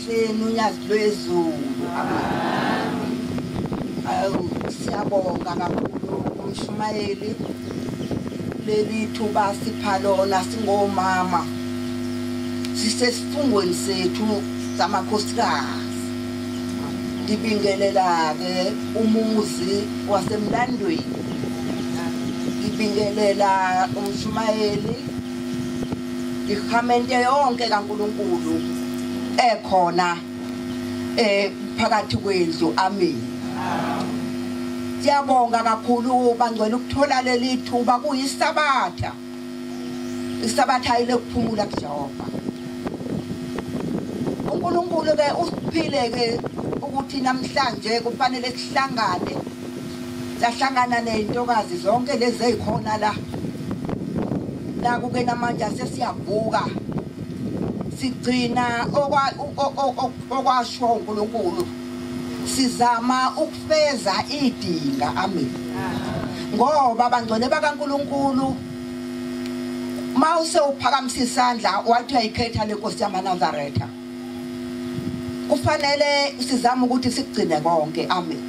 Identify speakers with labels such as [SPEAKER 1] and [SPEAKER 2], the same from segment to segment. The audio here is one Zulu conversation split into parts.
[SPEAKER 1] Sheni unyazi lwezulu. Awu siyabonga kakhulu umshumayeli leli thuba sipha lona singomama sisesifungweni sethu samakhosikazi ngibingelela-ke umuzi wasemlandweni ngibingelela umshumayeli ikhamente yonke kaNkuluNkulu ekhona eh phakathi kwendlu amen Siyabonga kakhulu bangcwele ukuthola leli thuba kuyisabatha isabatha ile kuphumula kuJehova uNkulunkulu ke usiphile ke ukuthi namhlanje kufanele sihlangane sahlangana nezintokazi zonke lezi ezikhona la la kuke namanje sesiyavuka sigcina okwasho uNkulunkulu sizama ukufeza idinga amen ngoba bangcwele bakaNkulunkulu mawuse uphakamisa isandla wathi uyayikhetha lenkosi yamaNazaretha kufanele sizame ukuthi sikugcine konke amen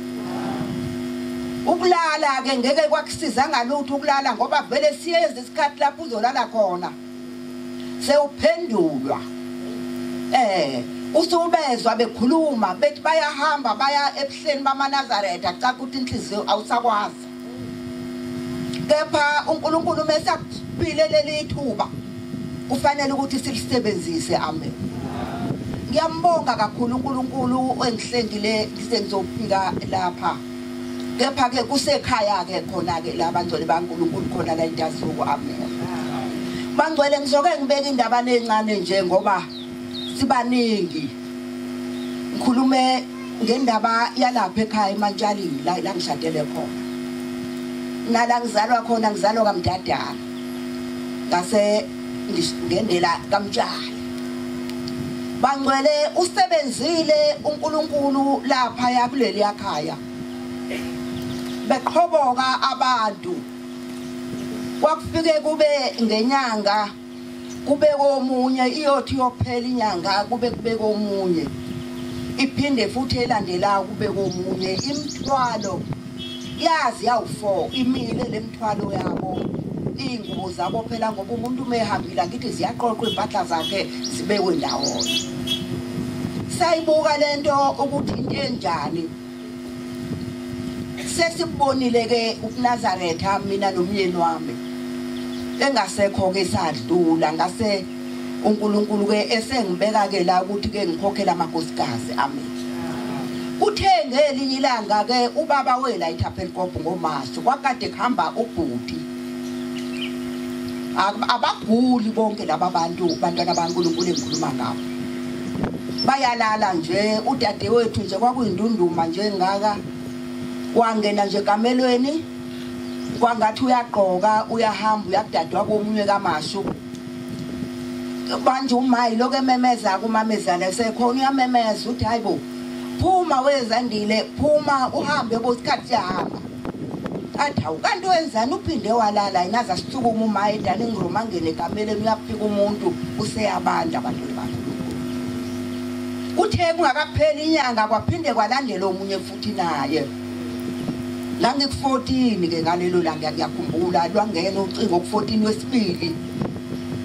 [SPEAKER 1] ukulala ke ngeke kwakusiza ngalutho ukulala ngoba vele siyeza isikhathi lapho uzolala khona sewuphendulwa eh usubezwa bekhuluma bethi bayahamba baya ebuhleni bamaNazaretha cha ukuthi inhliziyo awusakwazi kepha uNkulunkulu uma esakuphile leli thuba kufanele ukuthi silisebenzise amen ngiyambonga kakhulu uNkulunkulu engihlengile sengizofika lapha kepha ke kusekhaya ke khona ke la bangcwele baNkulunkulu khona la intasuku amen bangcwele ngizoke ngibeke indaba nezincane nje ngoba sibaningi ngikhulume ngendaba yalapha ekhaya emantshalini la la ngishadele khona nala ngizalwa khona ngizalwa kamdadala ngase ngendela kamtshali bangcwele usebenzile uNkulunkulu lapha yakuleli yakhaya beqhoboka abantu kwakufike kube ngenyanga kube komunye iyothi iyophela inyanga kube kube komunye iphinde futhi elandelayo kube komunye imthwalo yazi yawu-four imile le mthwalo yabo iy'ngubo zabo phela ngoba umuntu uma ehambile angithi ziyaqoqwa iy'mpahla zakhe zibekwe ndawonye sayibuka le nto ukuthi into enjani sesikubonile ke ukuNazaretha mina nomyeni wami engasekho ke sadlula ngase uNkulunkulu ke esengibeka ke la ukuthi ke ngikhokhela amakosikazi ami kuthe ngelinye ilanga ke ubaba wela iThapelkop ngoMashi kwakade kuhamba ubhuti abaguli bonke laba bantu bantwana baNkulunkulu engikhuluma ngabo bayalala nje udade wethu nje kwakuyindunduma nje ngaka wangena nje kamelweni kwangathi uyagqoka uyahamba uyakudadwa komunye kamashu manje umayi lokho ememeza kumamezala sekhona uyamemeza uthi hayibo phuma wezandile phuma uhambe bosikhathi siyahamba athi hawu kanti wenzani uphinde walala yini aze asisukuma uma edining room angene ekameleni uyafika umuntu useyabanda abantwana bakhe kuthe kungakapheli inyanga kwaphinde kwalandela omunye futhi naye ngangik-14 ke ngalelo langa ngiyakhumbula lwangena ucingo ku-14 wesibili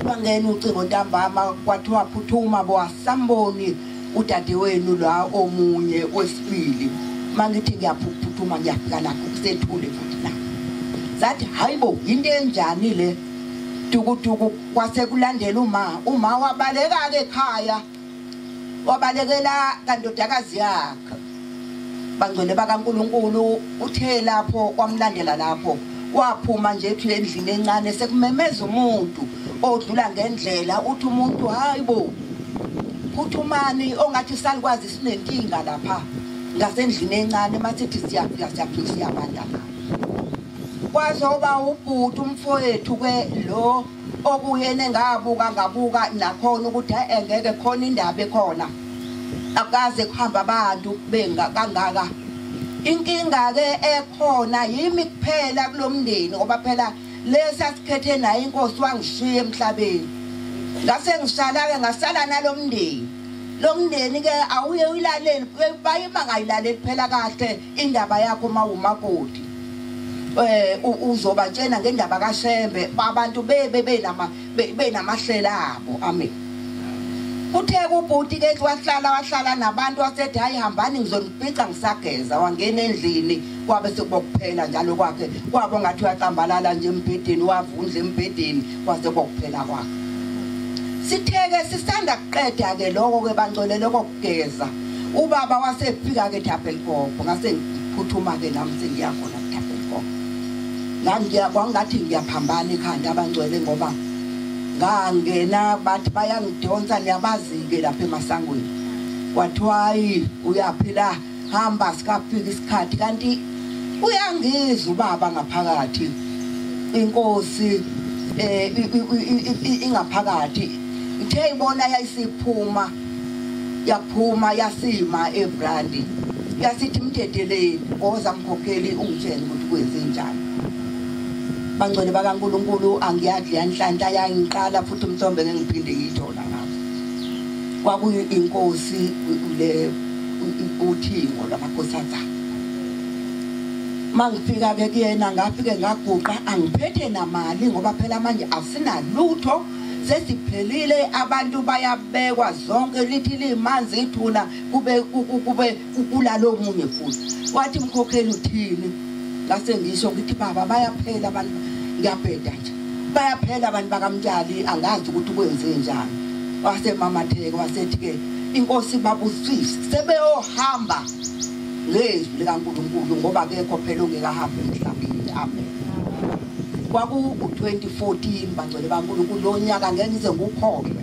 [SPEAKER 1] kwangena ucingo ntambama kwathiwa phuthuma bowasamboni udadewenu la omunye wesibili mangithi ngiyaphuthuma ngiyafika lapho kusethule futhi la zathi hayibo into enjani le dukuduku kwase kulandela uma uma wabaleka ke ekhaya wabalekela kandodakazi yakhe bangcwele bakaNkuluNkulu uthe lapho kwamlandela lapho waphuma nje ethi endlini encane sekumemeza umuntu odlula ngendlela uthi umuntu hayibo phuthumani ongathi salikwazi sinenkinga lapha ngasendlini encane masithi siyafika siyafika siyabanda kwazoba ubhuti umfowethu ke lo okuyena engabuka ngabuka nakhona ukuthi engeke khona indaba ekhona akaze kuhamba abantu benga kangaka inkinga ke ekhona yimi kuphela kulomndeni ngoba phela lesa sikhethe naye inkosi wangishiya emhlabeni ngase ngisala ke ngasala nalomndeni lomndeni ke awuye uyilaleli bayima ngayilaleli phela kahle indaba yakho mawumakoti eh uzobatshena ngendaba kaShembe abantu bebe benama benamahlela abo amen uthe kubhuti ke wahlala wahlala nabantu wasethi hayi hambani ngizonibhica ngisageza wangena endlini kwabe sekubokuphela njalo kwakhe kwabo ngathi uyacambalala nje embhedeni wavundla embhedeni kwase kokuphela kwakhe sitheke sisanda kuqeda ke lokho ke bangcwele lokho Geza. Ubaba wasefika ke Thapelikopo ngase ngiphuthuma ke nami sengiya khona Thapelikopo. Ngangiya kwangathi ngiyaphambana ekhanda abangcwele ngoba ngangena bathi bayangidonsa niyabazi ke lapha emasangweni. Kwathiwa uyaphila hamba sikafika isikhathi kanti uyangizwa ubaba ngaphakathi inkosi eh ingaphakathi ithe ibona yayisiphuma yaphuma yasima ebrandi yasithi mdedeleni ngoza mkhokheli ungitshela ukuthi kwenze njani bangcwele bakaNkuluNkulu angiyadli yanhlanhla yangiqala futhi umthombe ngiphinde ngiyithola ngakho kwakuyinkosi le uthingo lwamakhosazana mangifika ke kuyena ngafike ngaguqa angiphethe namali ngoba phela manje asinalutho sesiphelile abantu bayabekwa zonke lithi limanzi ithuna kube kube kulalo munye futhi wathi mkhokheli uthini ngase ngisho ukuthi baba bayaphela abantu ngiyabheda nje bayaphela abantu bakamtshali angazi ukuthi kwenze njani wase mamatheke wasethi ke inkosi babusisi sebeyohamba ngezwi likaNkuluNkulu ngoba kekho phela ongekahambi emhlabeni amen kwaku 2014 bangcwele baNkuluNkulu lonyaka ngeke ngize ngukhohlwe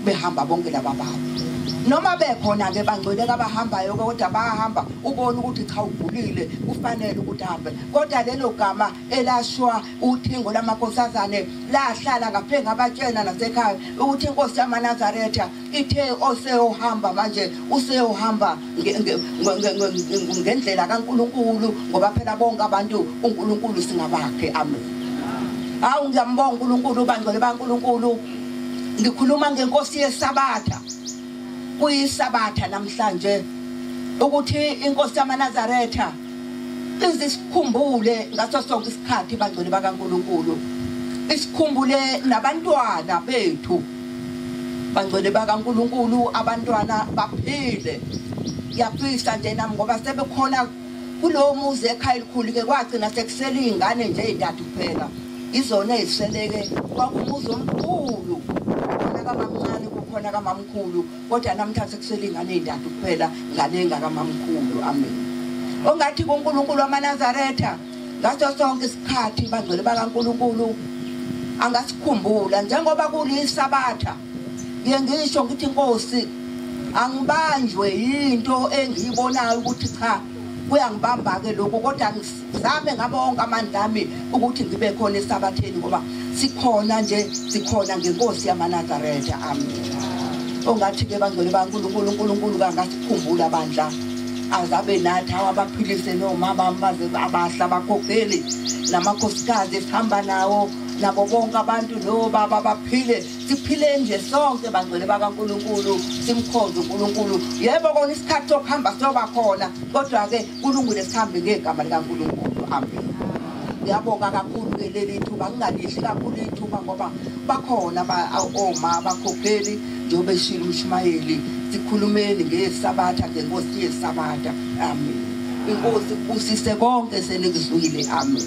[SPEAKER 1] behamba bonke laba bantu noma bekhona ke bangcwele kabahambayo ke kodwa bayahamba ubona ukuthi cha ugulile kufanele ukuthi ahambe kodwa lelo gama elashwa uthingo lamakhosazane lahlala ngaphe ngabatshena nasekhaya ukuthi inkosi yamanazaretha ithe oseyohamba manje useyohamba ngendlela kaNkuluNkulu ngoba phela bonke abantu uNkuluNkulu singabakhe amen hawu ngiyambonga uNkuluNkulu ubangcwele baNkuluNkulu ngikhuluma ngenkosi yesabatha kuyisabatha namhlanje ukuthi inkosi yamanazaretha ize sikhumbule ngaso sonke isikhathi bangcwele bakaNkuluNkulu isikhumbule nabantwana bethu bangcwele bakaNkuluNkulu abantwana baphile ngiyafisa nje nami ngoba sebekhona kulowo muzi ekhaya elikhulu ke kwagcina sekusele iy'ngane nje ey'ntathu kuphela izona eziseleke kwakubuza omkhulu khona kamamncane kukhona kamamkhulu kodwa namhla sekusele ingane ezintathu kuphela ngane engakamamkhulu amen ongathi kuNkulunkulu wamaNazaretha ngaso sonke isikhathi bangcwele bakaNkulunkulu angasikhumbula njengoba kulisabatha ngiye ngisho ngithi inkosi angibanjwe yinto engiyibonayo ukuthi cha kuyangibamba-ke lokhu kodwa ngizame ngabo wonke amandla ami ukuthi ngibe khona esabatheni ngoba sikhona nje sikhona ngenkosi yamanazaretha ami ongathi-ke bangcwele bankulunkulu unkulunkulu kangasikhumbula bandla azabe nathi awabaphilise nomama baze abahla bakhokheli namakhosikazi esihamba nawo nabo bonke abantu nobaba baphile siphile nje sonke bangcwele bakaNkulunkulu simkhonze uNkulunkulu yebo kona isikhathi sokuhamba siyoba khona kodwa ke kulungile sihambe ngegama likaNkulunkulu amen ngiyabonga kakhulu ke leli thuba ngingalidli kakhulu ithuba ngoba bakhona oma bakhokheli njengoba eshilo umshumayeli sikhulumeni ngesabatha ngenkosi yesabatha amen inkosi kubusise konke senikuzwile amen